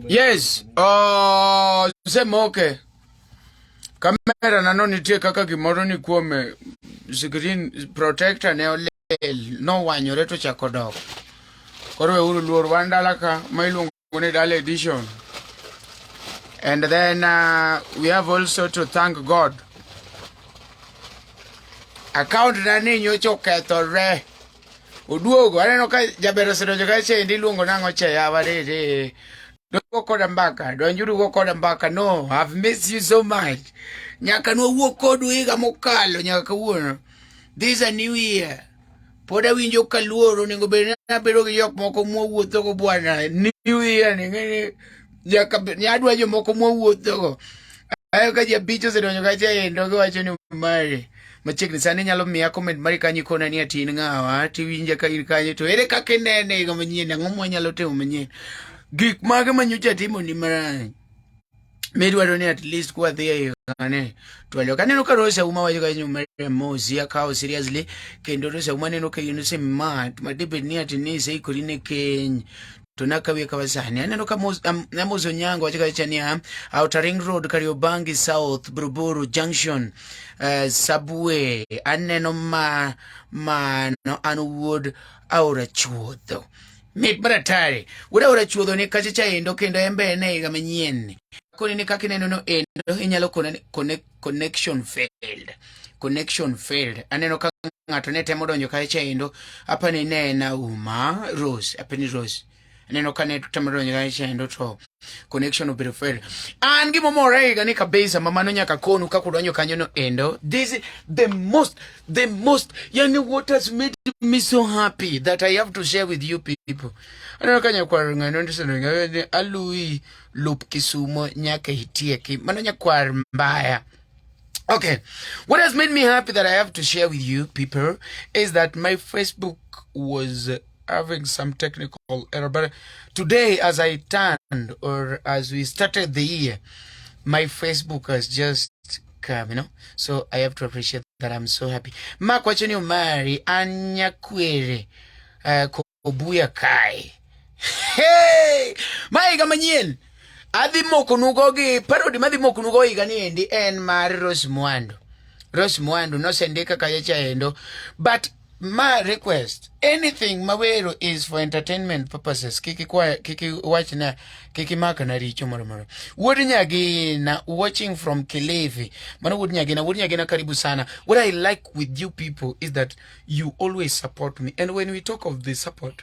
Yes, uh, sema okay. Kamera nano nitie kaka gimoro ni kuome screen protector ne olel nowanyore to chako dok. Koro weuru luor wan dala ka ma iluongo Kunidal edition. And then uh, we have also to thank God. Account na ninyo choketho re. Uduogo, aneno ka jabero sedojo ka chendi luongo nango cheya warere. Don't go koda mbaka. Don't you go koda mbaka. No, I've missed you so much. Nyaka no wuok kodu higa mokalo nyaka kawuono. This is a new year. pod awinjo ka luoro onego bed ni abedo gi jok moko mwawuothogo bwana new year ni ng'eni nyaka bed- ni adwa jomoko mwawuothogo ayo ka jabich osedonjo kacha endo giwacho ni mari machiegni sani inyalo miya comment mari kanyo ikona ni ati in ng'awa tiwinja ka in kanyo to ere kaka inene higa manyien ang'o mwanyalo timo manyien gik mage manyocha timoni marach medwaro ni at least kwadhi e kane twalio kaneno ka Rosa uma wacho ka nyuma Mosi akawo seriously kendo Rosa uma neno ka in osemat ma debed ni ati ni iseikori ne keny to nakawie kawa sani aneno ka Amos Onyango wacho kacha niya Outer Ring Road Kariobangi South Buruburu Junction uh, Subway aneno ma mano an wuod aora chuodho Mit maratari. Wura wura chuodho ni kacha cha endo kendo embe ene higa manyien ni. Koni ni kaka ineno no endo inyalo kone connect, connection failed. Connection failed. Aneno ka ng'ato ne temo donjo kacha cha endo. Apa ni ne na uma Rose. Apa ni Rose. Aneno ka ne temo donjo kacha cha endo to. connection obedo fail an gima omorega ni kabisa mamano nyaka konu kaka udonjo kanyo no endo this is the most the most yani what has made me so happy that i have to share with you people aneno ka nyakwar ng'ano ndisenongaweni alui lup kisumo nyaka itieki mano nyakwar mbaya Okay, what has made me happy that I have to share with you people is that my Facebook was having some technical error, but today as I turned or as we started the year, my Facebook has just come, you know. So I have to appreciate that. I'm so happy. Mark, what's your name? Mary Anyakwere uh, Kobuya Kai. Hey, my Gamaniel. Adhi moko nugo gi parodi madhi moko nugo higa ni endi en mar Rose Mwando. Rose Mwando nosendika kacha endo but ma request anything ma wero is for entertainment purposes kiki kwa kiki wachna kiki maka na richo moro moro wuod nyagina watching from Kilifi mano wuod nyagina wuod nyagina karibu sana what i like with you people is that you always support me and when we talk of the support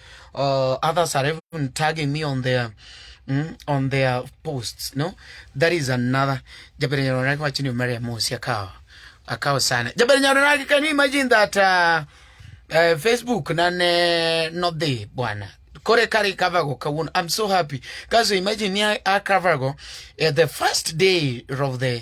uh, others are even tagging me on their mm, on their posts no that is another jabere nyaronaki wacho ni maria mosi akawa akawa sana jabere nyaronaki can you imagine that uh, uh, facebook nane not there bwana kore kari kavago kawun i'm so happy kaso imagine ni akavago uh, the first day of the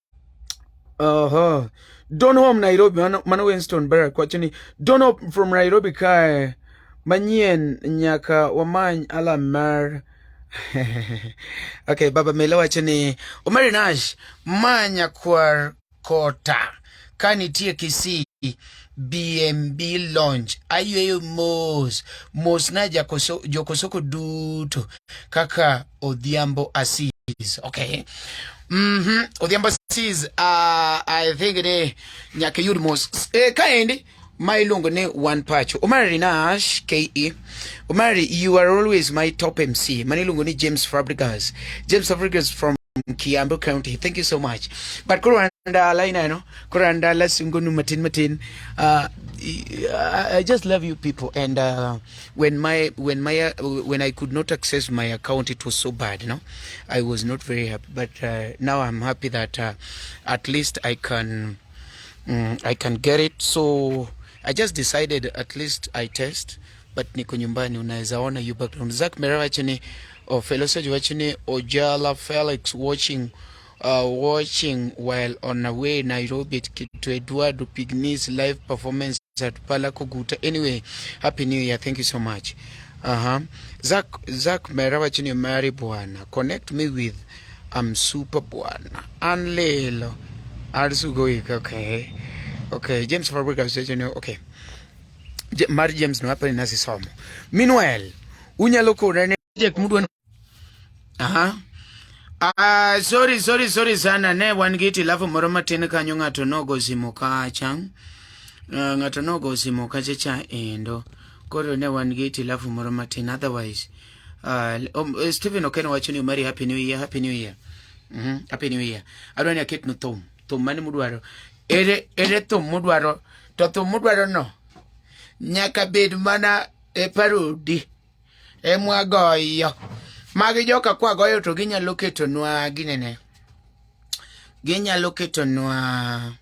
Uh-huh. Don home Nairobi mano, mano Winston Barrack wacho ni Don home from Nairobi kae manyien nyaka wamany alam mar okay, Baba Mele wacho ni Omari Nash ma nyakwar Kota ka nitie Kisii BMB Lounge ayueyo mos mos na jakoso, jokosoko duto kaka Odhiambo Asis okay mm -hmm. Odhiambo Asis uh, I think ni nyaka yud mos eh, kaendi ma iluongo ni One Pacho Omari Nash KE Omari you are always my top MC mane iluongo ni James Fabregas James Fabregas from Kiambu County. Thank you so much. But koro anda line ano, koro anda la sungunu matin matin. Uh, I just love you people and uh, when my when my uh, when I could not access my account it was so bad you know I was not very happy but uh, now I'm happy that uh, at least I can um, I can get it so I just decided at least I test but niko nyumbani, unaweza ona you background. Zak Mera wachini or fellow sage wachini Ojala Felix watching uh, watching while on a way Nairobi to Eduardo Pignis live performance at Pala Kuguta. Anyway, happy new year. Thank you so much. Uh-huh. Zak Zak Mera wachini mari bwana. Connect me with I'm super bwana. Anlelo. Arisugo wika okay. Okay, James Fabrica Association okay. Je, Mar James no hapa nasi somo. Meanwhile, unyalo kona ne project mudwa. Aha. Ah, uh, sorry sorry sorry sana ne wan gi tilafu moro matin kanyo ng'ato nogo simo kacha. Uh, ah, ng'ato nogo simo kacha cha endo. Koro ne wan gi tilafu moro matin otherwise Uh, um, uh, Stephen Okeno wacho ni Omari happy new year, happy new year. Mhm, mm happy new year. Adwa ni aket no thum, thum mane mudwaro. Ere ere thum mudwaro, to thum mudwaro no nyaka bed mana e parodi e mwagoyo. Magi joka kwa goyo to ginyalo keto nwa ginene. Ginyalo keto nwa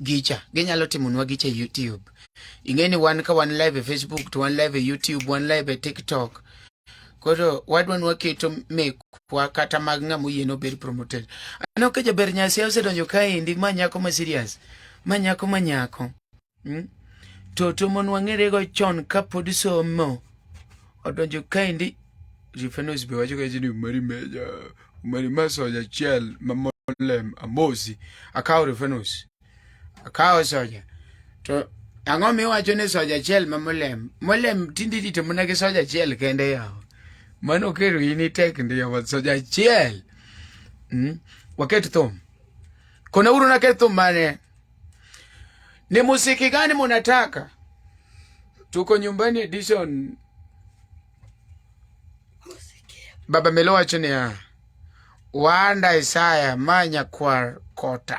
gicha ginyalo timonwa gicha e youtube ing'e ni wan ka wan live e facebook to wan live e youtube wan live e tiktok koro wadwa ni waketo mekwa kata mag ng'ama oyiene obed promoted aneno ka jaber nyasi osedonjo kaendi ma nyako ma serious ma nyako ma nyako hmm? to to mon wang'erego chon kapod somo odonjo kaendi rifenos be wacho kaendi ni mari meja Omeri masoja achiel mamolem amosi akawo reference akawo soja to ang'o miwacho ni soja achiel ma molem molem tinde irito mana gi soja achiel kende yawa mano kero in itek ndiyo soja achiel mm? waket thum kona uru naket thum mane ni musiki gani munataka tuko nyumbani edition Baba Melo wacho niya, wanda Isaya ma nyakwar kota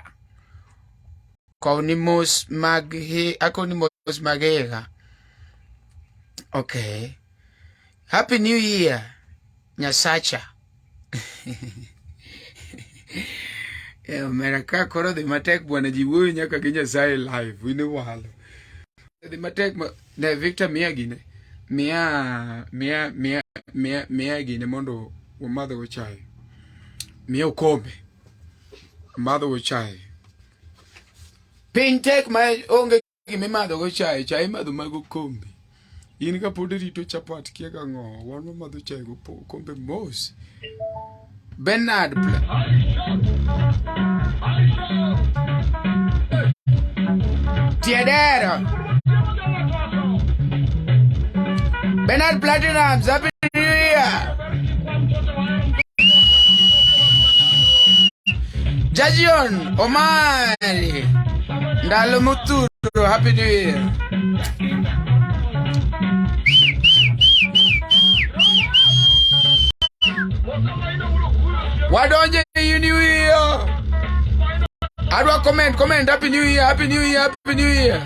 kowni mos mag hi akowni mos mag higa okay happy new year nyasacha Eh, omera ka koro dhi matek bwana ji wuoyo nyaka gi nyasaye live in walo dhi matek ne victor miya gine miya miya miya miya miya gine mondo wamadho go chae miya okombe madho go chae piny tek ma onge gima imadhogo chae chae imadho mago kombe in ka pod irito chapat kia ka ng'o wan wamadho chae go kombe mos Bernard Pla Tiedera Bernard Platinum Happy New Year Jajion Omari Ndalo muturo, happy new year. Wadonje you new year. Adwa comment, comment, happy new year, happy new year, happy new year.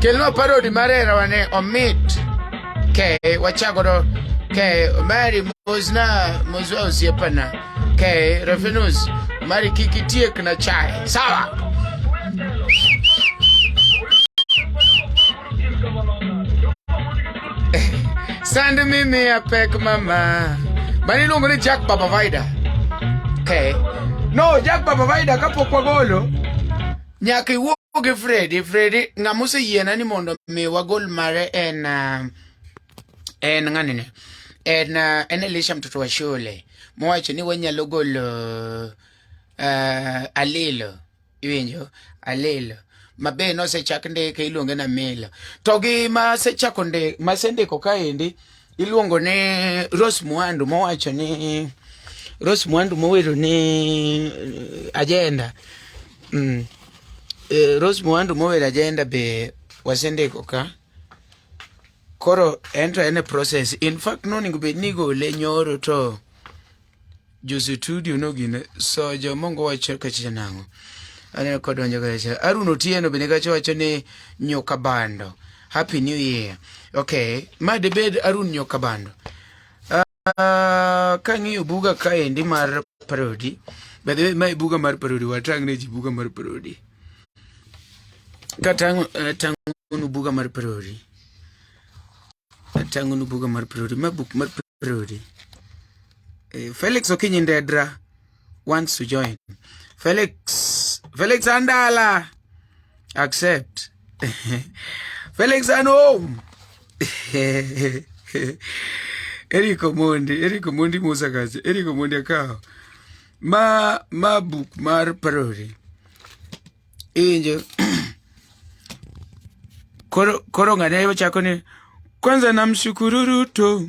Kelno parody marera wane omit. Okay, wachagodo. Okay, Mary mozna mozwa usiepana. Okay, Refinus, mari kiki tiek na chai. Sawa. Send me me a peck mama. Bani lungo ni Jack Baba Vida. Okay. No, Jack Baba Vida kapo kwa golo. Nyaka iwuo gi Freddy, Freddy ng'ama oseyiena ni mondo mi wagol mare en uh, en ng'anini. En uh, en Elisha mtoto wa shule. mowacho ni wanyalo golo uh, alilo iwinjo alilo mabe nosechak ndike iluonge na milo to gi masechako ndi masendiko kaendi iluongo ni Rose Mwandu mowacho ni Rose Mwandu mowero ni eh, agenda mm. Eh, Rose Mwandu mowero agenda be wasendiko ka Koro en to en e process. In fact noningo bed ni igole nyoro to jo studio no gine so jo mongo wacho kachicha nango. Aneno ka donjo kachicha. Arun Otieno bende kacho wacho ni nyoka bando. Happy New Year. Okay, ma debed Arun nyoka bando. Uh, kang'iyo buga kaendi mar parody by the way mae buga mar parody watang' ne ji buga mar parody katang'onu eh, uh, buga mar parody atang'onu buga mar parody ma buk mar parody eh, felix okinyi ndedra wants to join. Felix, Felix Andala, accept. Felix and home. Eric Omondi, Eric Omondi Musa Kazi, Eric Omondi Akao. Ma, ma book mar parody. Injo. Koro, koro ngane chako ni, kwanza namshukuru Ruto.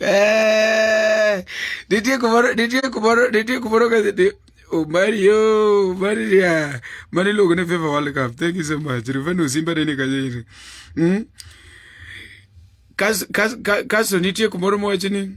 Eh, nitie kumoro nitie kumoro nitie kumoro ka Omario oh, Maria mane iluongo ni FIFA World Cup thank you so much Rufani Osimba ne ni kanyo iri mm? kaso nitie kumoro mowacho ni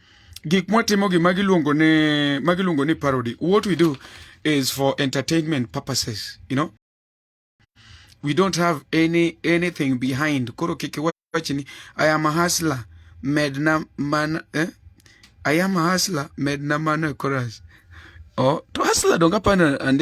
gik mwatimogi ma giluongo ni ma giluongo ni parody what we do is for entertainment purposes you know we don't have any anything behind koro kik wachni i am a hustler medna man eh? i am a hustler medna man chorus oh to hustler donga pana and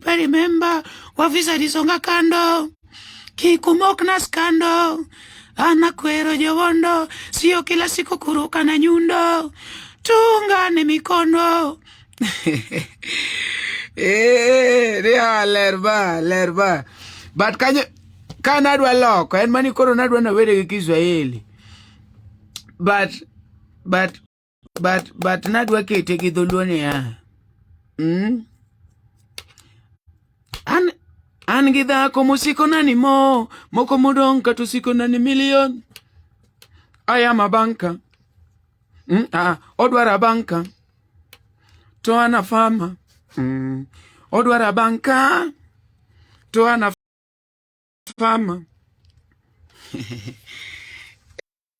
pale memba wa visa lisonga kando kikumok na skando ana kwero jowondo sio kila siku kuruka na nyundo tungane mikono eh, ria lerba lerba but kanyo ka nadwa loko en mani koro nadwa nawere gi Kiswahili but but but but nadwa kete gi dholuo niya mm? an an gi dhako mosikona ni mo moko modong' kata osikona ni milion ayama banka mm? ah, odwara banka to ana fama mm. odwara banka to ana fama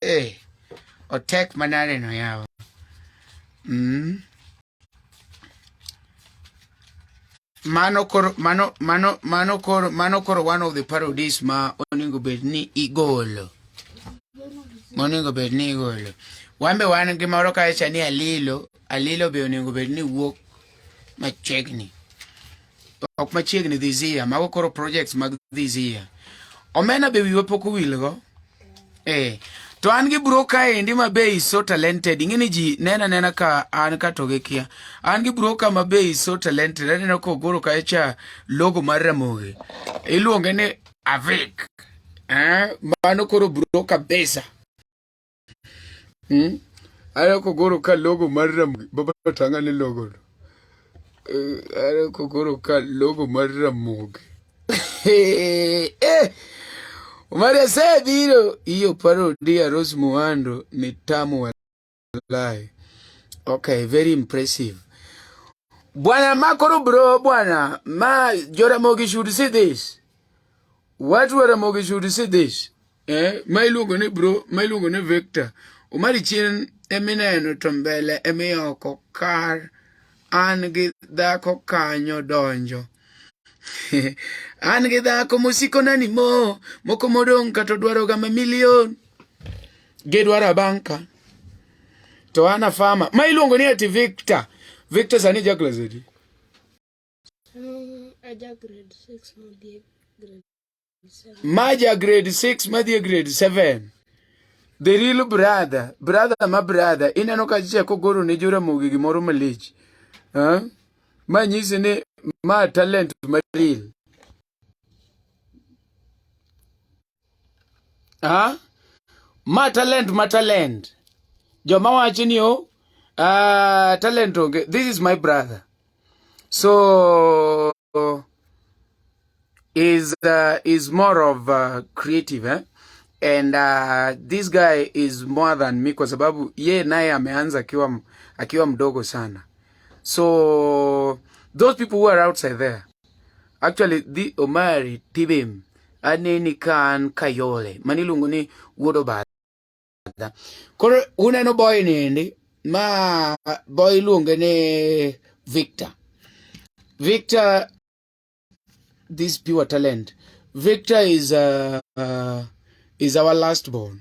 hey, eh, otek manade no yawa mm. mano koro mano mano mano koro mano koro one of the parodies ma oningo bed ni igolo moningo bed ni igolo wan be wan gi moro kacha ni alilo alilo be oningo bed ni wuok machiegni ok machiegni this year mago koro projects mag this year omena be wiwa pok owilgo eh to an gi bro ka endi ma be is so talented ing'eni ji nena nena ka an ka to gikia an gi bro ka ma be is so talented aneno ka ogoro ka cha logo mar ramogi iluonge ni avik eh mano koro bro kabisa Hmm? Ara kogoro ka logo mar Ramogi, Baba Tanga ne logo. Eh, Ara kogoro ka logo mar Ramogi. Eh, eh. Omari asebiro iyo paro dia Rose Muhando ni tamu walai. Okay, very impressive. Bwana makoro bro bwana ma Joramogi should see this. Watu wa Ramogi should see this. eh, ma iluongo ni bro ma iluongo ni Victor Omari chien emineno to mbele emiyoko kar an gi dhako kanyo donjo an gi dhako mosiko nani mo moko modong' kata odwaroga ma milion gidwaro abanka to ana fama ma iluongo ni ati victor victor sani jaklasedi Maja grade 6 madhi grade 7 the real brother brother ma brother ineno ka chiche kogoro ne joramogi gimoro malich huh? ma nyisi ni ma talent ma real Ah, ma talent ma talent joma wacho ni o oh, uh, talent onge this is my brother so is uh, is more of uh, creative eh? and uh, this guy is more than me kwa sababu ye naye ameanza akiwa akiwa mdogo sana so those people who are outside there Actually, dhi Omari Tibim aneni ka an Kayole mani iluongo ni Wuod Obadha. Koro uneno boy niendi ma boy iluonge ni Victor. Victor this pure talent. Victor is uh, uh, is our last born.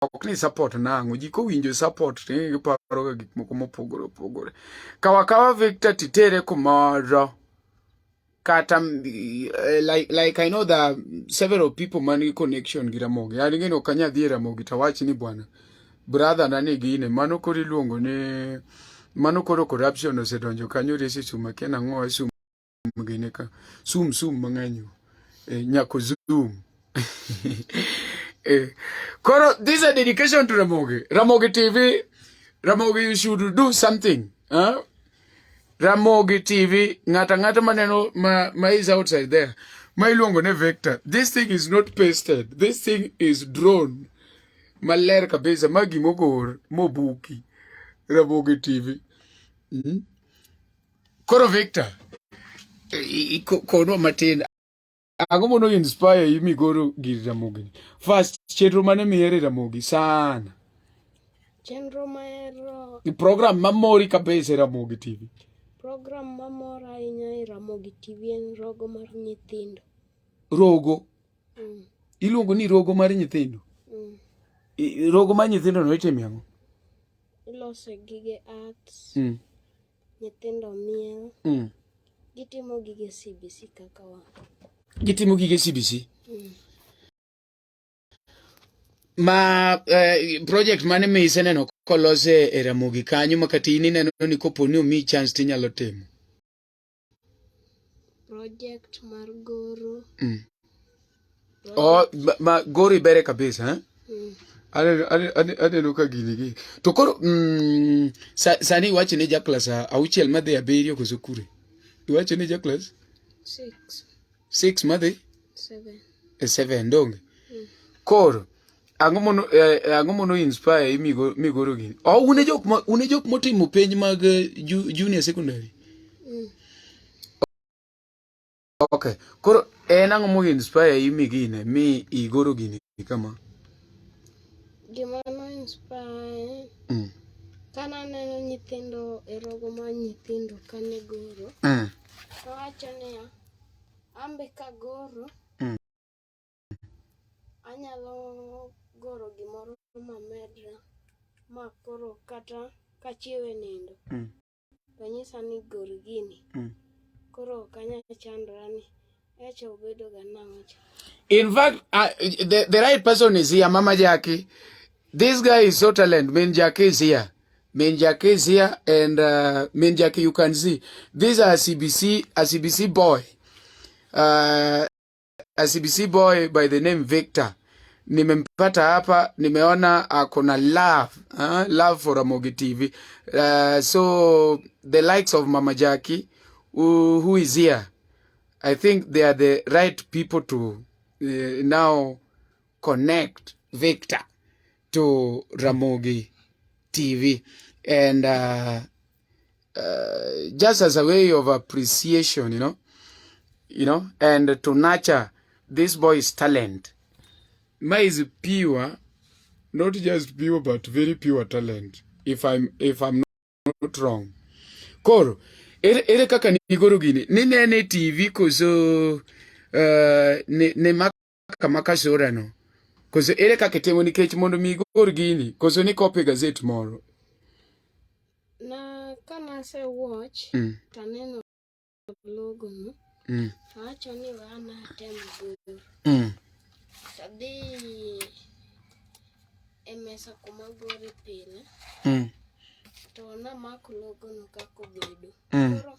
ok ni support nang'o ji kowinjo support ni giparoga gik moko mopogore opogore kawa kawa victor titere kumoro kata eh, like, like i know the several people man gi connection gi ramogi an ng'eno ok anya dhi e ramogi to awach ni bwana brother na ni gine mano koro iluongo ni mano koro corruption osedonjo kanyo resi suma kiena ng'owa suma gine ka sum sum mang'eny eh, nyako zoom eh, koro this is a dedication to Ramogi Ramogi TV Ramogi you should do something huh? Ramogi TV ng'ata ng'ata maneno ma, ma is outside there ma iluongo ne vector this thing is not pasted this thing is drawn maler kabisa ma gimogor mobuki Ramogi TV mm -hmm. Koro Victor, kono matin ang'o mondo inspire yi migoro gir ramogi ni first chenro mane mihere ramogi sana chenro mahero program mamori kabisa e ramogi tv program mamora ahinya e ramogi tv en rogo mar nyithindo rogo mm. iluongo ni rogo mar nyithindo mm. rogo mar nyithindo no itime ang'o ilose gige arts mm. Nyithindo miel. Mm. Gitimo gige CBC kaka wa. Gitimo gige CBC. Mm. Ma eh, project mane mi iseneno kolose e Ramogi kanyo ma kata in ineno ni kopo ni omi chance tinyalo timo? Project mar goro. Mm. Oh, ma, ma gori bere kabisa eh? Mm. Aneno ka gini gi. To koro mm, sa, sani iwacho ne jaklas auchiel madhi abiriyo koso kure? Iwacho ne jaklas? Six. Six madhi? Seven. E seven donge? Mm. Koro ang'o mono eh, ang'o mono inspire imigo migoro gini? Oh, une jok ma une jok motimo penj mag eh, ju, junior secondary. Mm. Okay. Koro en ang'o mo inspire yi mi gine mi igoro gini kama? Gima no inspire. Mm. Kana neno nyithindo e rogo ma nyithindo kane goro. Mm. Owacho niya, ambe ka goro. Mm. Anyalo goro gimoro ma medra ma koro kata kachiewe nindo. Mm. to nyisa ni gol gini mm. koro ok anyal chandora ni echa obedo ga nang'o cha in fact uh, the, the right person is here mama jaki this guy is so talent min jaki is here min jaki is here and uh, min jaki you can see these are cbc a cbc boy uh, a CBC boy by the name Victor nimempata hapa, nimeona ako na love uh, love for Ramogi TV uh, so the likes of Mama Jackie who, who is here I think they are the right people to uh, now connect Victor to Ramogi TV and uh, uh, just as a way of appreciation, you know, you know, and to nurture this boy's talent. Ma is pure, not just pure, but very pure talent. If I'm, if I'm not wrong. Koro, ere, ere kaka nigoro gini? Ninene TV koso uh, ne, ne mbaka ma kashora no koso ere kaka itimo nikech mondo mi igor gini koso ni copy gazet moro na kane ase watch mm. to aneno logo no mm. awacho ni we an atem goro mm. tadhi e mesa kuma gore pile mm. to namako logo no kaka obedo mm. koro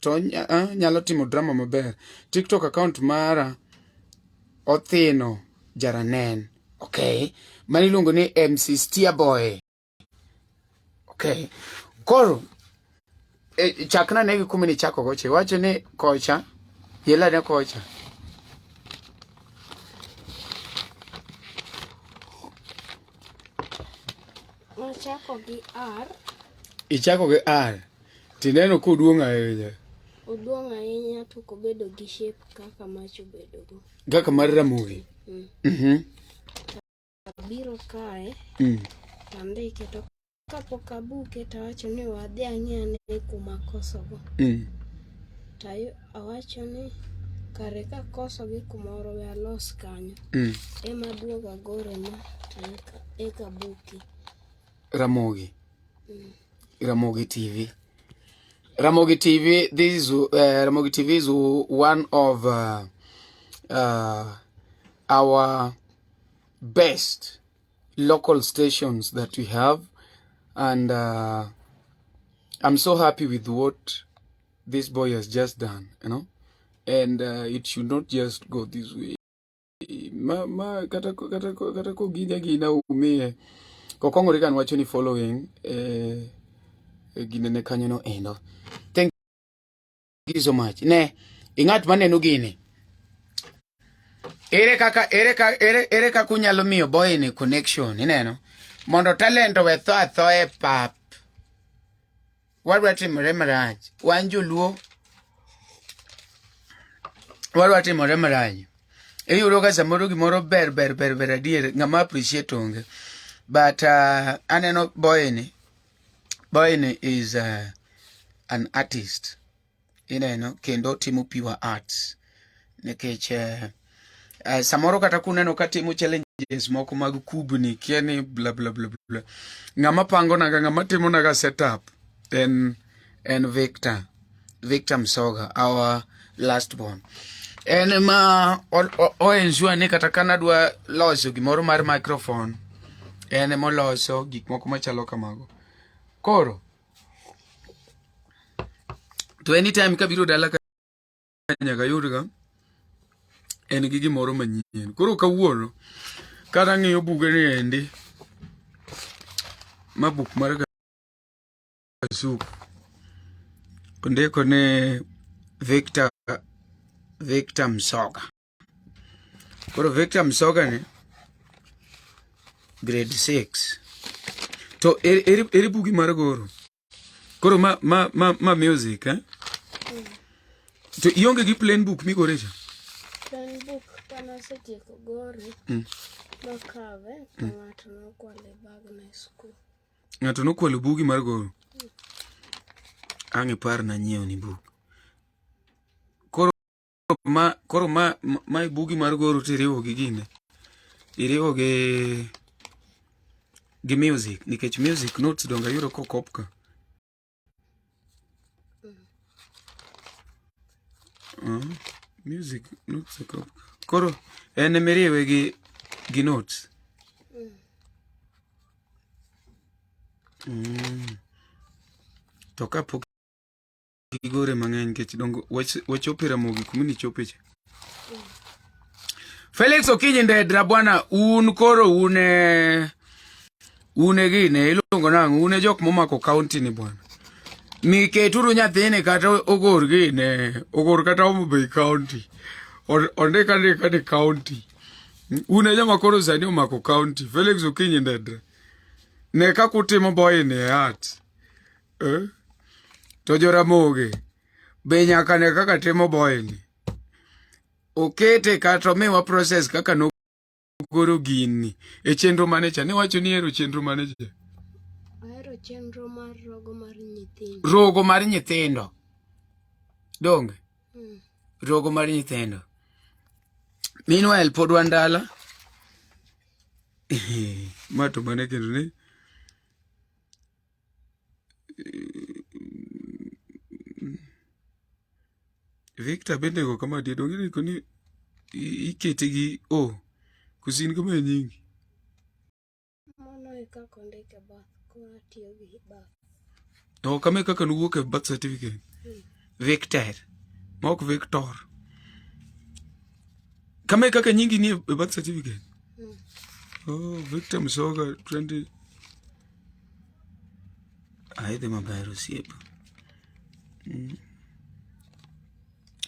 to anyalo timo drama maber. TikTok account mara othino jaranen. Okay. Mani iluongo ni MC Stia Boy. Okay. Koro e, chakna ne kuma ni chako goche. Wacho ni kocha yela ne kocha. Ochako gi R. Ichako gi R. Tineno ka oduong' ahinya. Oduong' ahinya to kobedo gi shape kaka mach obedo go. Kaka mar ramogi. Mm. Mhm. Abiro kae. Mm. Andike to kapok abuke to awacho ni wadhi ang'e ane kuma kosogo. Mm. Tayo Awacho ni kare ka koso gi kumoro we alos kanyo mm. ema duogo agore ma eka buki Ramogi mm. Ramogi TV Ramogi TV this is uh, Ramogi TV is one of uh, uh, our best local stations that we have and uh, I'm so happy with what this boy has just done, you know, and uh, it should not just go this way. Ma, ma kata kata kata ko gija gina umie ko kongo rikan wacho ni following eh, eh gine ne kanyo no endo. Thank you so much. Ne ingat manenu gini. Ere kaka ere kaka ere ere kaka unyalo miyo boy ni connection ineno mondo talent we tho atho e pap wadwa timore marach wan joluo wadwa timore marach iyudo ka samoro gimoro ber ber ber ber adier ng'ama appreciate onge but uh, aneno boyni boyni is uh, an artist ineno kendo timo pure arts nikech eh, eh, samoro kata kuneno ka timo challenges moko mag kubni kia ni bla bla bla bla ng'ama pangonaga ng'ama timonaga setup en en victor victor msoga our last born en ma oensure ni kata ka nadwa loso gimoro mar microphone en moloso gik moko machalo kamago koro to anytime kabiro dala ka nyaka yudga en gi gimoro manyien koro kawuono kata ng'iyo buge ni endi ma buk mar kasuk ondiko ni victor victor msoga Koro Victor Msoga ni grade 6. To eri, eri, eri bugi mar goro. Koro ma ma ma, ma music eh? Mm. To ionge gi plain book migore cha? Plain book kana setieko gore. Mm. Nokawe to mm. ng'ato nokwale bag na school. Ng'ato nokwalo bugi mar goro. Mm. Ang'e par na nyiewo ni buk. ma koro ma ma bugi mar goro to iriwo gi gine iriwo gi gi music nikech music notes donga yudo kokop ka uh, music notes okop ka koro en miriwe gi gi notes mm. to kapok gigore mang'eny nikech dongo wachope Ramogi kuma ni chope cha. Felix Okinyi Ndedra bwana, un koro une une gine iluongo nang'o une jok momako kaunti ni bwana miketuru nyathini kata ogor gine ogor kata Homabay kaunti ondik andika ni kaunti une joma koro sani omako kaunti Felix Okinyi Ndedra ne kakutimo boyini e art Eh? To joramogi be nyaka ne kaka timo boyni. Okete kata omiwa process kaka no goro gini e chenro mane cha niwacho ni ero chenro mane cha ahero chenro mar rogo mar nyithindo rogo mar nyithindo donge mm. rogo mar nyithindo meanwhile pod wan dala ma to mane kendo ni Victor bende go kama dia donge ni koni ikete gi o kusin kama e nyingi. Mano e kaka ondike e bath koro atiyo gi bath. No kama e kaka nuwuok e birth certificate. Hmm. Victor. Mok Victor. Kama e kaka nyingi ni e birth certificate. Hmm. Oh, Victor Msoga 20 Aidhi maber osiepa.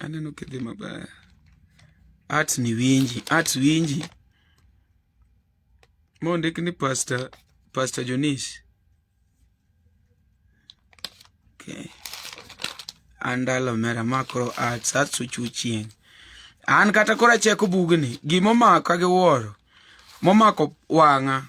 Aneno kidhi maber. Art ni winji, art winji. Mondik ni Pastor, Pastor Jonis. Okay. Andalo mera makro arts, arts uchuchien. An kata kora cheko bugni, gimomaka gi wuoro, momako wang'a.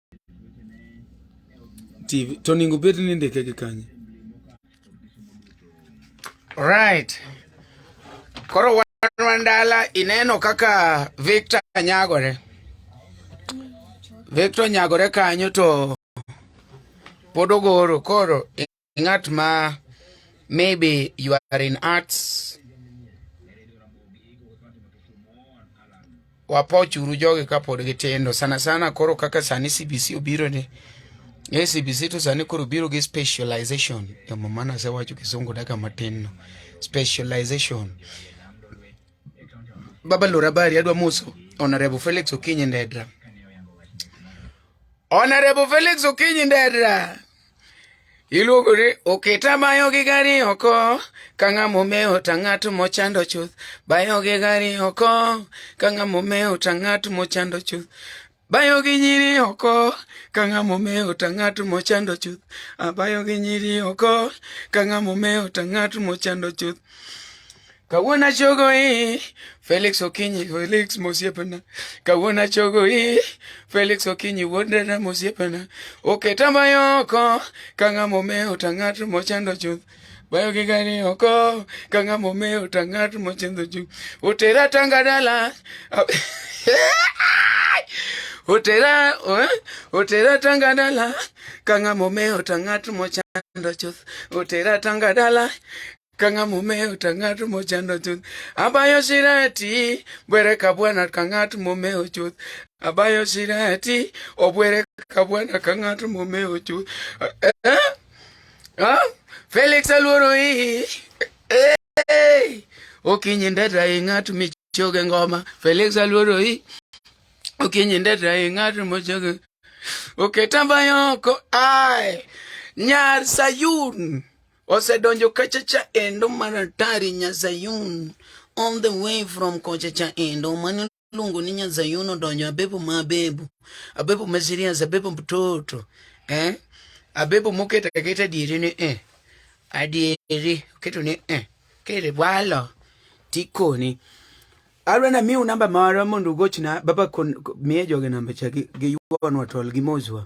TV to onego bed ni indike gi kanye? Alright. Koro wan Wandala ineno kaka Victor nyagore. Victor nyagore kanyo to pod ogoro koro ng'at ma maybe you are in arts wapochuru jogi kapod gitindo sana sana koro kaka sani cbc obiro ni e cbc to sani koro biro gi specialization emomana asewacho kisungu daka matin no specialization baba lora bari adwa moso honorable felix okinyi ndedra honorable felix okinyi ndedra Iluongo ni oketa bayo gi gari oko ka ng'ama omewo ta ng'at mochando chuth bayo gi gari oko ka ng'ama omewo ta ng'at mochando chuth bayo gi nyiri oko ka ng'ama omewo ta ng'at mochando chuth abayo gi nyiri oko ka ng'ama omewo ta ng'at mochando chuth Kawuona chogo i Felix Okinyi Felix Mosiepena Kawuona chogo i Felix Okinyi Wuodena Mosiepena Oketa mayoko Kanga mome otangat mochando chuth Bayo gi gani oko Kanga mome otangat mochando chuth Otera tanga dala Otera eh? Otera tanga dala Kanga mome otangat mochando chuth Otera tanga dala kanga mumeo ta ng'at mochando chuth abayo shirati bwere ka bwana ka ng'at mumeo chuth abayo shirati obwere ka bwana ka ng'at mumeo chuth eh? eh? ah? Felix aluoro hii eh? eh? okinyi ndeta i ng'at michoge ngoma Felix aluoro hii okinyi ndeta i ng'at mochoge oketa bayoko ai nyar Sayun osedonjo kachacha endo mar atari nyazayun on the way from kochacha endo mani luongo ni nyazayun odonjo abebo ma abebo abebo ma serious abebo mtoto eh? abebo moketa keta diere ni eh. adieri oketo ni eh. kere walo tikoni alwe na miu namba mara mondo ugochna baba kon miye joge namba cha gi yuanwa tol gi mozwa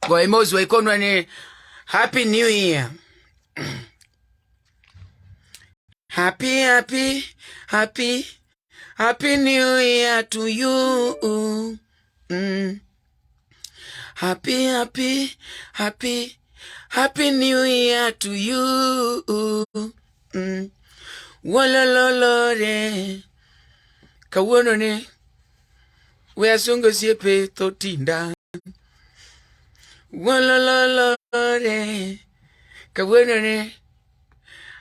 kwa emozi waikonwa ni happy new year happy happy happy happy new year to you mm. happy happy happy happy new year to you mm. wolololore kawuono ni We asungo osiepe tho tinda. Wolololore. Kawuono ne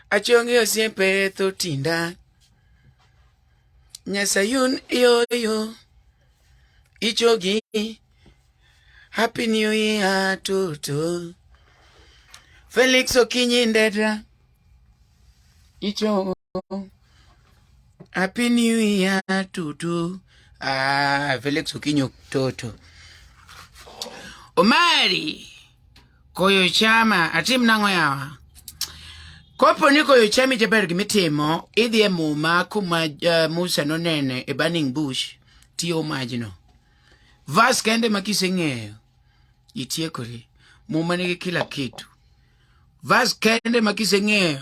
achongi osiepe tho tinda. Nyasayun yoyo. Ichogi. Happy New Year toto. Felix Okinyi Ndedra. Ichogo. Happy New Year tutu. Ah, Felix Okinyo Toto. Omari koyo chama atim nang'o yawa? Kopo ni koyo chami jaber gimitimo idhi e muma kuma uh, Musa nonene e burning bush tiyo majno. Vas kende ma kiseng'eyo itiekori. Muma nigi kila kitu. Vas kende ma kiseng'eyo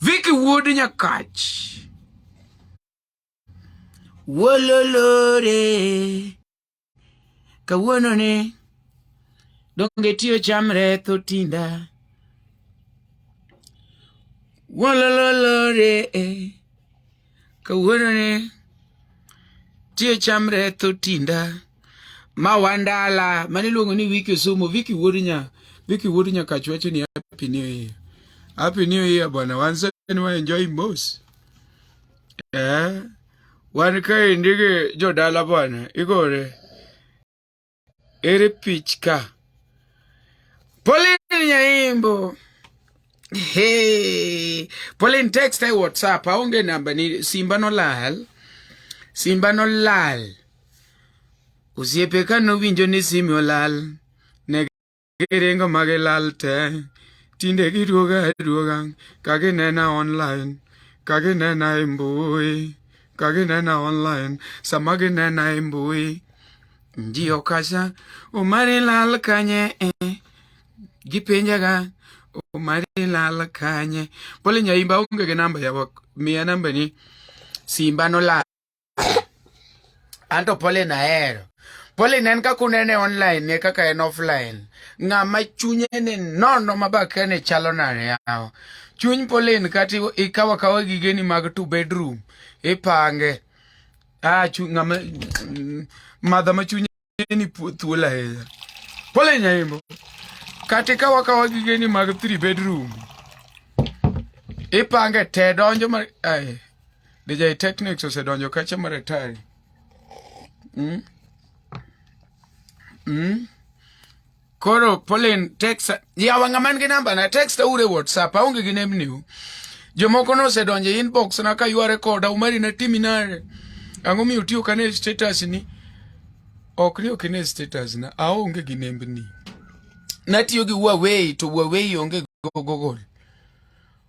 Viki wuod Nyakach. Wololore. Kawuono ni donge tiyo cham retho tinda. Wololore. kawuono ni tie chamre tho tinda ma wandala mane iluongo ni wiki osumo wiki wuod nya wiki wuod nya kachu wacho ni happy new year happy new year bwana wanse ni wa enjoy mos eh wan kaendi gi jodala bwana igore Ere pichka? Pauline Nyaimbo. Hey, Pauline text e WhatsApp aonge namba ni simba nolal. Simba nolal. Osiepe ka nowinjo ni simi olal. giringo ma gilal te tinde giduoga aduoga ka ginena online ka ginena e mbui ka ginena online sama ginena e mbui ji okacha omari lal kanye eh. gipenjaga omari lal kanye pole nyaimba onge gi namba yawa miya nambani simba nolal anto Pauline ahero Pauline en kaka unene online ne kaka en offline ng'ama chunye ni nono ma bakene chalo nade yawa chuny Pauline kata ikawa kawa gigeni mag two bedroom ipange ah ng'ama mm, madha ma chunye gigeni pu- thuolo ahinya pole nyaimbo kata ka wakawa gigeni mag three bedroom ipange te donjo mar ai DJ Technics osedonjo kacha mar atari mm? mm? Koro Pauline text yawa ng'ama nigi namba na text ure WhatsApp aonge gi nembni u. Jomoko nosedonjo e inbox na ka yware koda umari na timi nare. Ang'o miyo tiyo kane status ni? Ok ni ok ne status na aonge gi nembni. Natiyo gi Huawei to Huawei onge Google.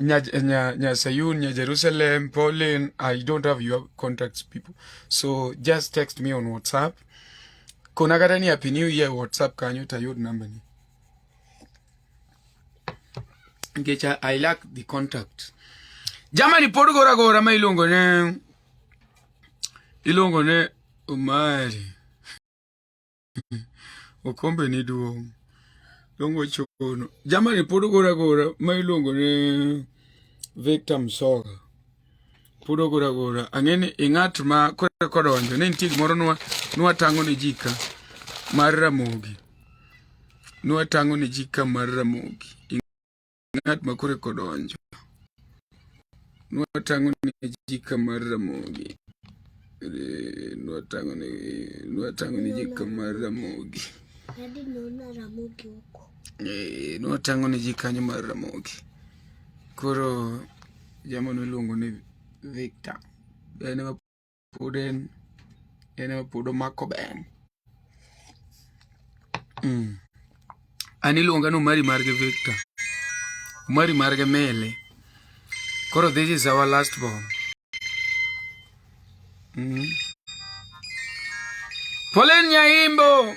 Nya, Nya, Nya Sayun, Nya Jerusalem, Pauline, I don't have your contacts, people. So just text me on WhatsApp. Kuna kata ni Happy New Year WhatsApp kanyo tayud number ni. Ngecha, I lack the contact. Jamani pod gora gora ma iluongo ne iluongo ne Omari. okombe ni duong' dongo chono jamani pod ogora gora ma iluongo ni Victor Msoga pod ogora gora ang'e ni ing'at ma kore kodonjo ne nitie gimoro nwa nwa tango ne ji ka mar ramogi nwa tango ne ji ka mar ramogi ng'at ma kore kodonjo. Nwatang'o ne ji kamar Ramogi. Eh, Nwatang'o ne nwatang'o ne ji kamar Ramogi. Dadi naona Ramogi huko. Eh, Nwatang'o ne ji kanyo mar Ramogi. Koro jamano iluongo ni Victor. En ema Pod en en ema pod omako ben. Mm. An iluonga ni Omari Marge Victor. Omari Marge Mele. Koro this is our last born. Mm. Polen Nyaimbo.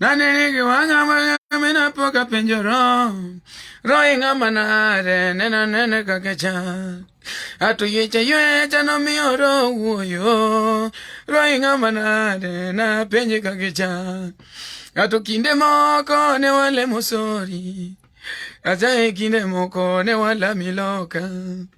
Nani nigi wanga wanga mina poka penjo ro Ro inga manare nena nene kakecha Atu yecha yecha no mi oro uoyo Ro inga manare na penje kakecha Atu kinde moko ne wale mosori Ajaye kinde moko ne wala miloka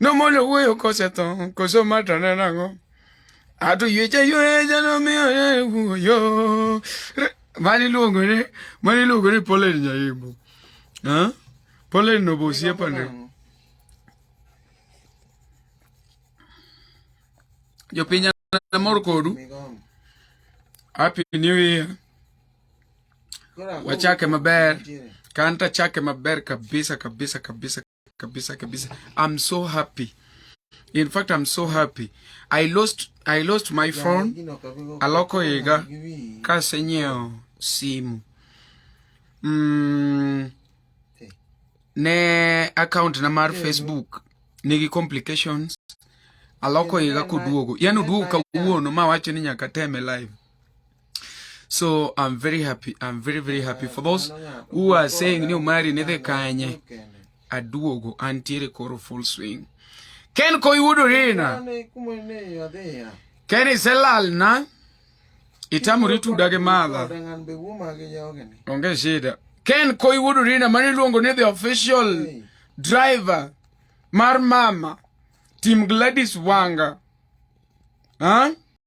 no mo lo wuoyo kosetho koso matane nang'o ato yweche yweche nomiyo wuoyo mani luongo ni mani luongo ni polen nyaimbo polen no bosiepane jopiny amor kodu happy new year wachake maber kanta chake maber kabisa kabisa kabisa kabisa kabisa. I'm so happy. In fact, I'm so happy. I lost I lost my phone. Aloko iga kasenyeo simu. Mm, ne account na mar Facebook nigi complications. Aloko iga kuduogo. Yaani uduogo kawuono ma wacho ni nyaka teme live. So I'm very happy. I'm very, very happy for those who are saying ni umari nidhi kanye. Aduogo antiere koro full swing. Ken ko yudo rina. Ken iselal na. Itamuri tudage madha. Onge shida. Ken ko yudo rina mani luongo ni the official driver mar mama. Team Gladys Wanga. Huh?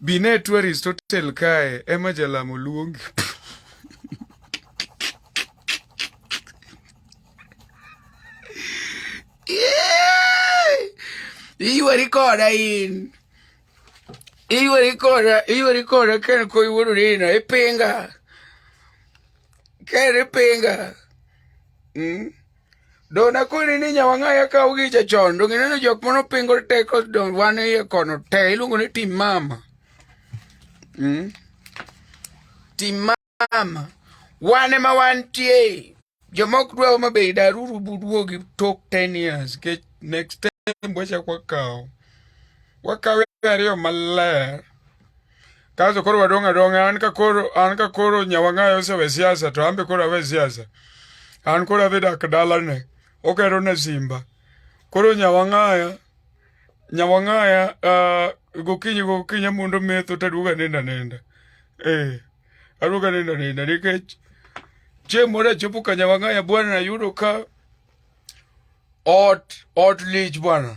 Binetu Aristotle kae ema jalamo luongi. Iywari koda in. Iywari koda, iywari koda ken ko iwuodo nina, ipinga. Ken ipinga. Mm? Do nakoni ni nyawang'aya kawo gi chachon do gineno jok mano pingo teko do wan iye kono te iluongo ni tim mama mm? tim mama wan ema wantie jomok dwa ma be daruru buduogi tok 10 years ke next time wachak wakawo wakawe ariyo maler Kaso koro wadong' adong'a an ka koro an ka koro nyawang'ayo osewe siasa to an be koro awe siasa. An koro adhi dak dalane okero ne Simba. Koro nyawang'aya nyawang'aya uh, gokinyi gokinyi amundo metho taduoga nenda nenda. Eh, aduoga nenda nenda nikech chieng' moro achopo ka nyawang'aya bwana ayudo ka ot ot lich bwana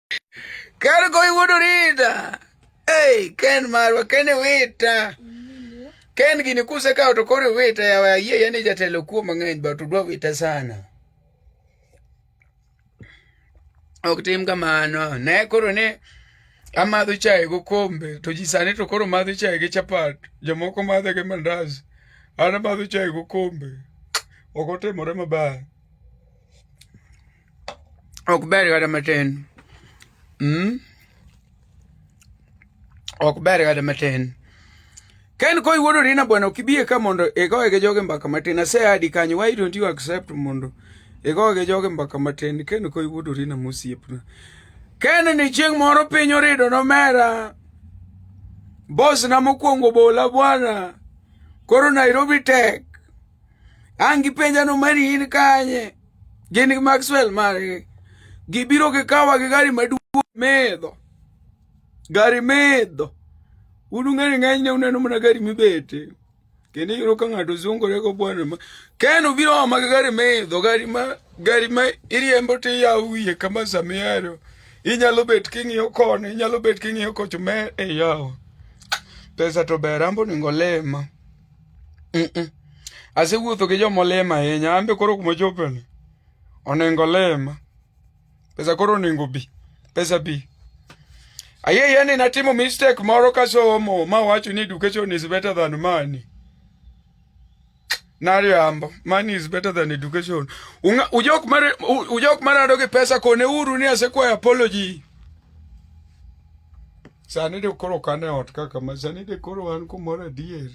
Kar goyi wuod Orita. Hey, Ken marwa, Ken e wita. Ken gini kuse kawo to koro wita yawa ayie yani jatelo kuo mang'eny but udwa wita sana. Ok tim kamano. Ne koro ne amadho chai go kombe to ji sani to koro madho chai gi chapat. Jomoko madho gi mandas. An amadho chai go kombe. Ok otimore maber. ok ber kata matin mm? ok ber kata matin ken ko iwuodo rina bwana ok ibie ka mondo igoye gi joge mbaka matin asehadi kanyo why don't you accept mondo igoye gi joge mbaka matin ken ko iwuodo rina mosiepna ken ni chieng' moro piny orido nomera bos na mokwongo bola bwana koro nairobi tek ang' gipenja no mari in kanye Gin gi Maxwell margi. Gibiro gi kawa gi gari maduong' medho. Gari medho. Un ung'eyo ng'eny ne uneno mana gari mibete. Kendo iyudo ka ng'ato zungore go bwana ma. Ken obiro ma gi gari medho, gari ma gari ma iriembo to iyawo wiye kama samiero. Inyalo bet king'iyo koni, inyalo bet king'iyo kocho me iyawo. Pesa to ber ambo ningo lema. Asewuotho gi joma olem ahinya, an be koro kuma ochopeni onengo olema. Pesa koro onengo bi, pesa bi. Ayie ni natimo mistake moro kasomo ma wacho ni education is better than money. Nariambo, money is better than education. Unga, ujok mare, ujok marado gi pesa kone uru ni asekwayo apology. Sani de koro kane ot kaka ma sani de koro wan kumoro adier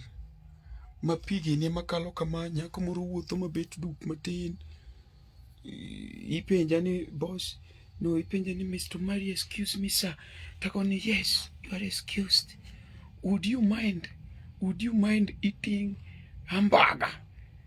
ma pigi ne makalo kama nyako moro wuotho mabet duk matin ipenja ni boss no ipenja ni Mr. Mari excuse me sir tako ni yes you are excused would you mind would you mind eating hamburger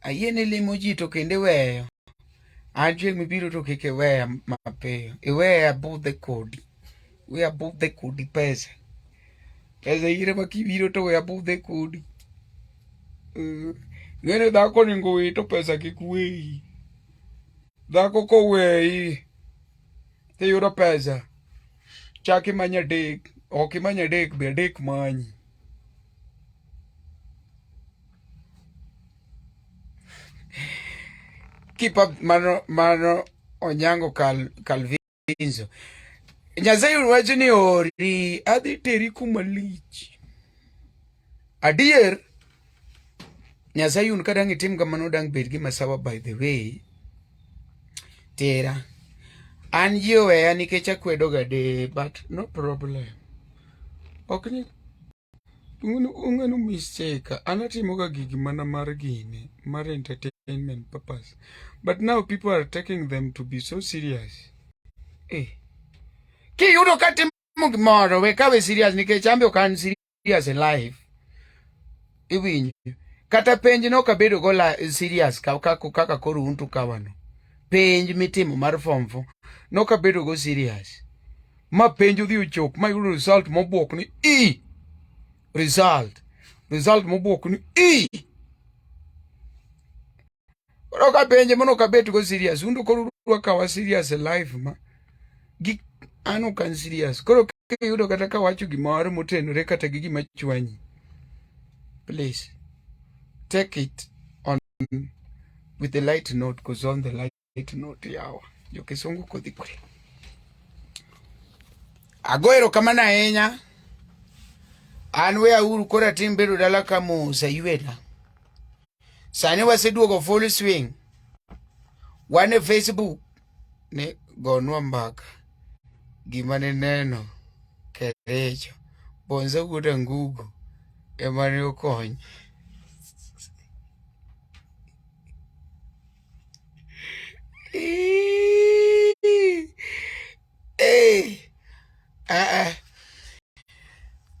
Ayie ni limo ji to kendo iweyo. An chieng' mibiro to kik iweya mapiyo. Iweya abudhe kodi. We abudhe kodi pesa. Pesa ire ma kibiro to we abudhe kodi. Eh, ng'ene dhako onego we to pesa kik weyi. Dhako koweyi tiyudo pesa. Chak imanya adek. Ok imanya adek be adek manyi. keep up mano mano onyango kal kalvinzo nyasaye wacho ni ori adhi teri kuma lich adier nyasaye un kadang itim kamano dang bed gi masawa by the way tera an ji oweya nikech akwedoga de but no problem ok ni ung'enu mistake anatimoga gigi mana mar gini mar entertainment purpose but now people are taking them to be so serious eh. kiyudo ka timo gimoro we kawe serious nikech ambe ok an serious in life iwinjo kata penj no kabedo go la serious kaka kaka koro untu kawano penj mitimo mar form 4 no kabedo go serious ma penj odhi ochop ma yudo result mobwok ni e result result mobwok ni e koro ka penje mono ka bet go serious undo koro dwa kawa serious e life ma gi an ok an serious koro kiyudo kata ka wacho gimoro motenore kata gi gima chwanyi please take it on with the light note because on the light Itinote yawa jokisungu kodhi kure. Ago erokamano ahinya. An we auru koro atim bedo dala ka Musa Yuela. Sani waseduogo full swing. Wan e Facebook ne gonwa mbaka gima ne neno kerecho bonza wuod angugo ema ne okonye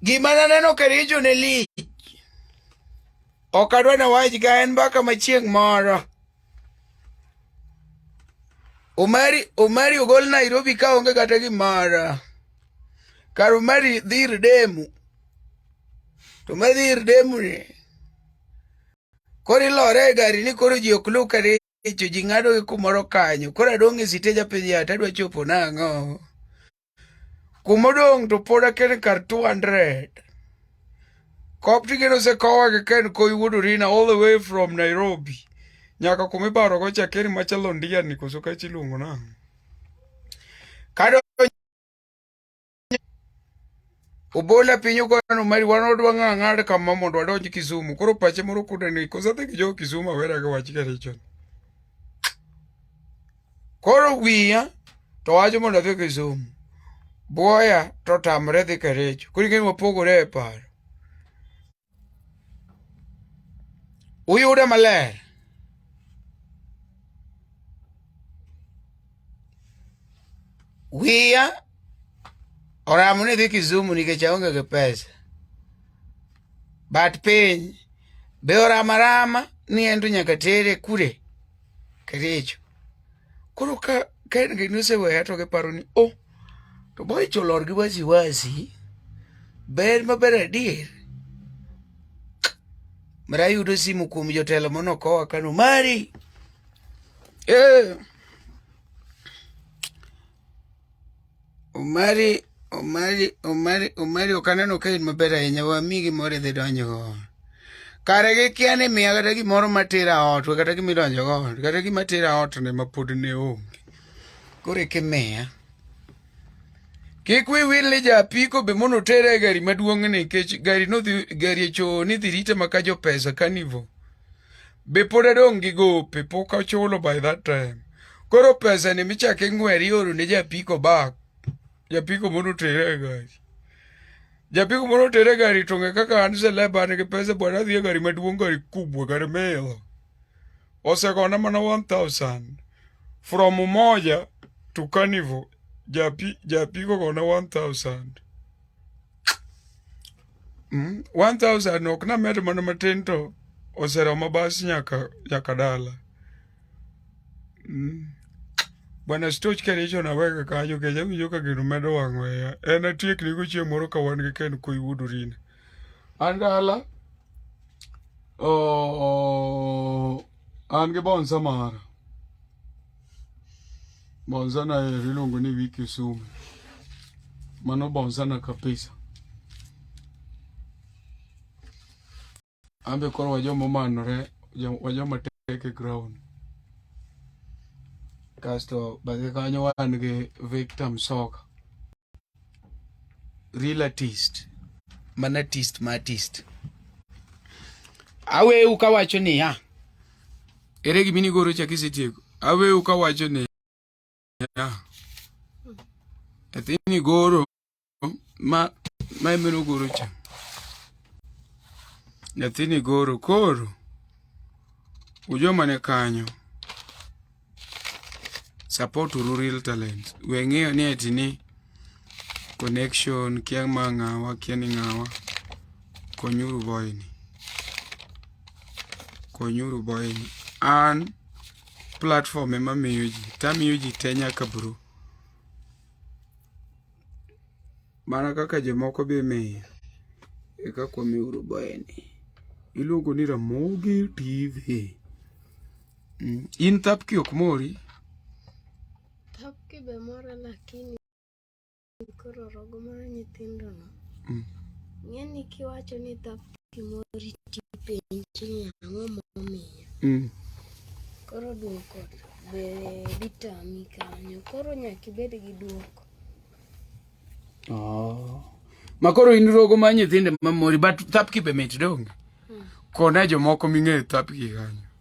Gima naneno ka richo ne lich. Ok adwa na wach ga en mbaka ma chieng' moro. Omari Omari ogol Nairobi ka onge kata gimoro. Kar Omari dhir demu. To ma dhir demu ni. Koro ilore e gari ni koro ji ok luw karicho, ji ng'ado gi kumoro kanyo. Koro adong' e sitej apenjo yawa tadwa chopo nang'o? Kumodong' to pod aken kar 200. Kop tigeno osekowa gi Ken Koi wuod Orina all the way from Nairobi. Nyaka kuma ibarogo cha Ken machalo ndiani koso kachi iluongo nang'o? Kadonjo Obola piny ogwano mari wan odwa ng'a ng'ad kama mondo wadonj Kisumu. Koro pache moro kude ni kosa dhi jo Kisumu awera ga wach ka richo. Koro wiya to wacho mondo adhi Kisumu. Boya to tamre dhi Kericho. Koro ing'e wapogore e paro. uyude maler wiya oramo ni dhi Kisumu nikech aonge gi pesa but piny be orama rama ni en to nyaka tere kure kericho. Koro ka ka en gini oseweya to giparo ni o oh, to boy cholor gi wasi wasi ber maber adier mara ayudo simu kuom jotelo mono kowa kano mari eh. Omari, Omari, Omari, Omari ok aneno ka in maber ahinya, wami gimoro idhi donjogo. Kare gikia ni miya kata gimoro matera ot, we kata gima idonjogo ot, kata gima tera ot ne ma pod ne onge. Koro eka imiya. Kik wi wil ni ja apiko be mondo otere e gari maduong'ni nikech gari nodhi gari e choo ni dhi rite maka jo pesa carnival. be pod adong' gi gope pok achulo by that time koro pesa ni michak ing'wer ioro ne japiko bak japiko mondo otere e gari japiko mondo otere e gari to ng'e kaka an seleb an gi pesa bwana adhi e gari maduong' gari kubwa gari milo osegona mana 1000 from umoja to carnival japiko gona 1000 Mm, 1000 ok na med mana matin to oseromo bas nyaka nyaka dala. Mm. Bwana Stoch ka richo na wega kanyo ke jawi joka gino medo wang'o ya. En atiek ni gochie moro ka wan gi ken ko yudo rin. An dala. Oh, an gi bonsa mara. Bonzana eri iluongo ni wiki sumi. Mano bonzana kabisa. Ambe koro wajoma omanore, wajoma tek e ground. Kasto bathe kanyo wan gi Victor Msoka. real artist mana artist ma artist aweu kawacho niya ere gima inigoro cha kisetieko aweu kawacho niya athi nigoro ma ma emeno goro cha nyathini goro koro ujomane kanyo support uru real talents we ng'eyo ni eti ni connection kia ma ng'awa kia ni ng'awa konyuru boyni konyuru boyni an platform ema miyo ji tamiyo ji te nyaka bro mana kaka jomoko be miyo eka kwamiuru boyni iluongo ni ramogi tv Mm. In thapki ok mori? Thapki be mora lakini koro rogo mar nyithindo no. Mm. Ng'eni kiwacho ni thapki mori tipenji ni ang'o momiyo. Mm. Koro duoko be ditami kanyo. Koro nyaka ibed gi duoko. Oh. Ma koro in rogo mar nyithindo mamori but thapki be mit donge? Mm. Kona jomoko ming'eyo thapki kanyo.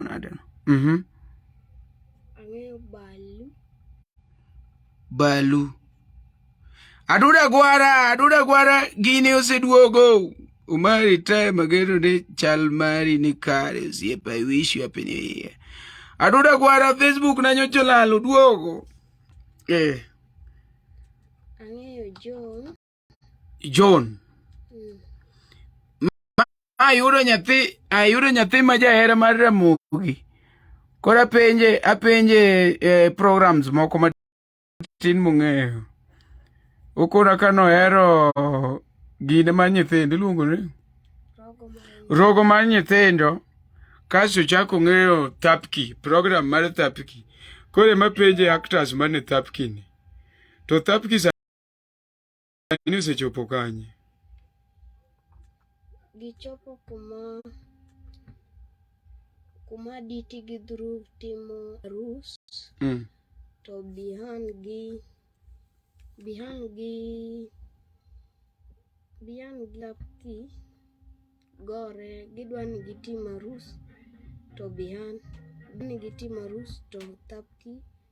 nade no mhm ang'eyo balu balu aduda gwara aduda gwara gini oseduogo umari tae magero ne chal mari ni kare osiepa i wish you happy new year aduda gwara facebook na nyocha olal oduogo eh ang'eyo john John. Ma ayudo nyathi, ayudo nyathi ma jahera mar Ramogi. Koro apenje, apenje eh, programs moko matin mong'eyo. Okona ka nohero gine mar nyithindo iluongo ni rogo mar nyithindo kasto chako ng'eyo thapki program mar thapki koro ema penje actors mane thapki ni to thapki sa- Sani osechopo kanye? Gichopo kuma kuma Diti gi Dhruv timo arus mm. to Bihan gi Bihan gi Bihan gi Lapki gore gidwa ni gitim arus to Bihan ni gitim arus to Tapki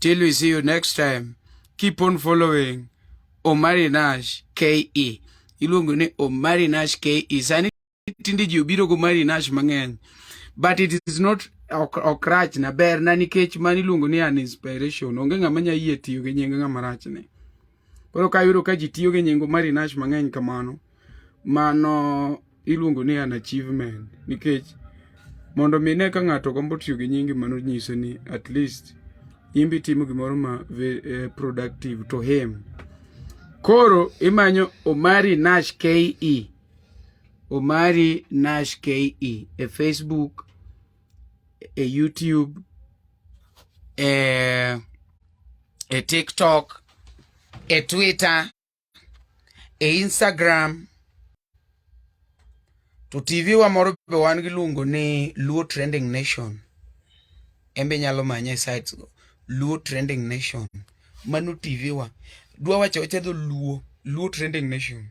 Till we see you next time. Keep on following Omari Nash KE. Iluongo ni Omari Nash KE. Sani tinde ji obiro go Omari Nash mang'eny. But it is not ok rach na ber na nikech mani iluongo ni an inspiration. Onge ng'ama nya yie tiyo gi nying ng'ama rach ni. Koro ka yudo ka ji tiyo gi nyingo Mary Nash mang'eny kamano, mano iluongo ni an achievement nikech mondo mi ne ka ng'ato gombo tiyo gi nyingi mano nyiso ni at least in be timo gimoro ma eh, productive to him. Koro imanyo Omari Nash KE. Omari Nash KE e Facebook e YouTube, e, e TikTok, e Twitter, e Instagram. To TV wa moro be wan gi luongo ni Luo Trending Nation. Embe nyalo manye e sites go. Luo Trending Nation. Mano TV wa. Dwa wacho wacho dho Luo. Luo Trending Nation.